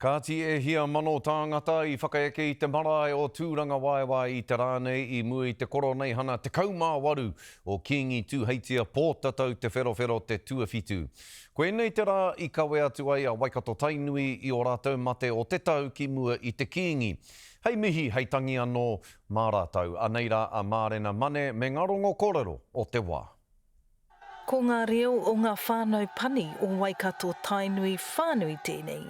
Kāti e hia mano tāngata i whakaeke i te marae o Tūrangawaewae i te rā nei i mua i te Koroneihana 18 o Kīngi Tūheitia Pōtatau Te Wherowhero te tuawhitu. Koinei te rā i kawe atu ai a Waikato-Tainui i ō rātou mate o te tau ki mua i te Kīngi. Hei mihi, hei tangi anō mā rātou. Anei rā a Mārena Mane me ngā rongo kōrero o te wā. Ko ngā reo o ngā whānau pani o Waikato Tainui whānui tēnei.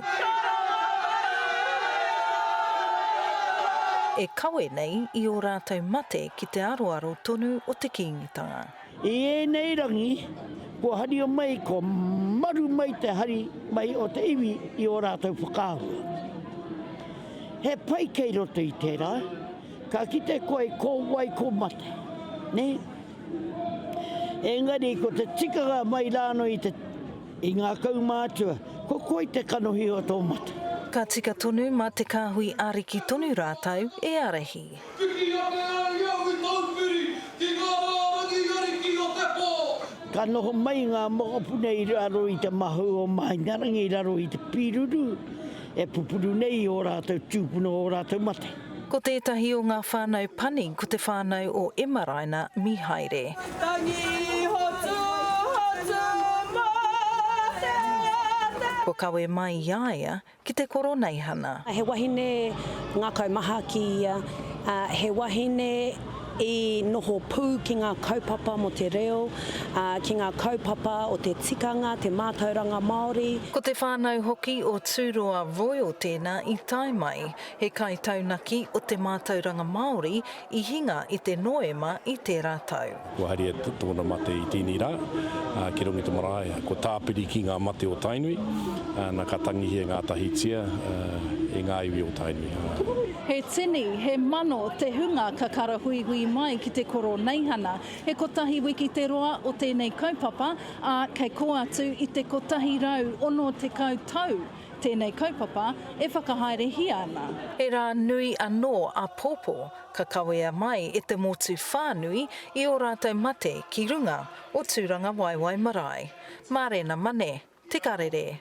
E kawe nei i ō rātou mate ki te aroaro tonu o te Kīngitanga. I ēnei rangi, kua haria mai, kua maru mai te hari mai o te iwi i ō rātou whakaahua. He pai kei roto i tērā, ka kite koe ko wai ko mate, nē? Engari ko te tikanga mai rānō i te i ngā kaumātua, ko koi te kanohi o tō mate. Ka tika tonu ma te Kahui Ariki tonu rātou e arahi. Whiti ake ai au i tōu whiri ki ngā rārangi ariki o te pō. Ka noho mai ngā mokopuna i raro i te mahau o Mahingarangi i raro i te pīruru e pupuru nei i ō rātou tūpuna o ō rātou mate. Ko tētahi o ngā whānau pani ko te whānau o Emaraina Mihaere. Tangi hotu, hotu mō te ata. Kua kawe mai i a ia ki te Koroneihana. He wahine ngakau maha ki ia, he wahine i noho pū ki ngā kaupapa mō te reo, ki ngā kaupapa o te tikanga, te mātauranga Māori. Ko te whānau hoki o Tūroa Royal tēnā i tae mai He kaitaunaki o te mātauranga Māori i hinga i te Noema i tērā tau. Kua haria tōna mate i tēnei rā, ki runga i te marae. Ko Tāpiri ki ngā mate o Tainui, nā ka tangihia ngātahitia e ngā iwi o Tainui. He tini, he mano te hunga ka karahuihui mai ki te Koroneihana. He kotahi wiki te roa o tēnei kaupapa, ā, kei kō atu i te kotahi rau ono tekau tau Tēnei kaupapa e whakahaerehia ana. He rā nui anō āpōpō ka kawea mai e te motu whānui i ō rātou mate ki runga o Tūrangawaewae marae. Mārena Mane, Te Karere.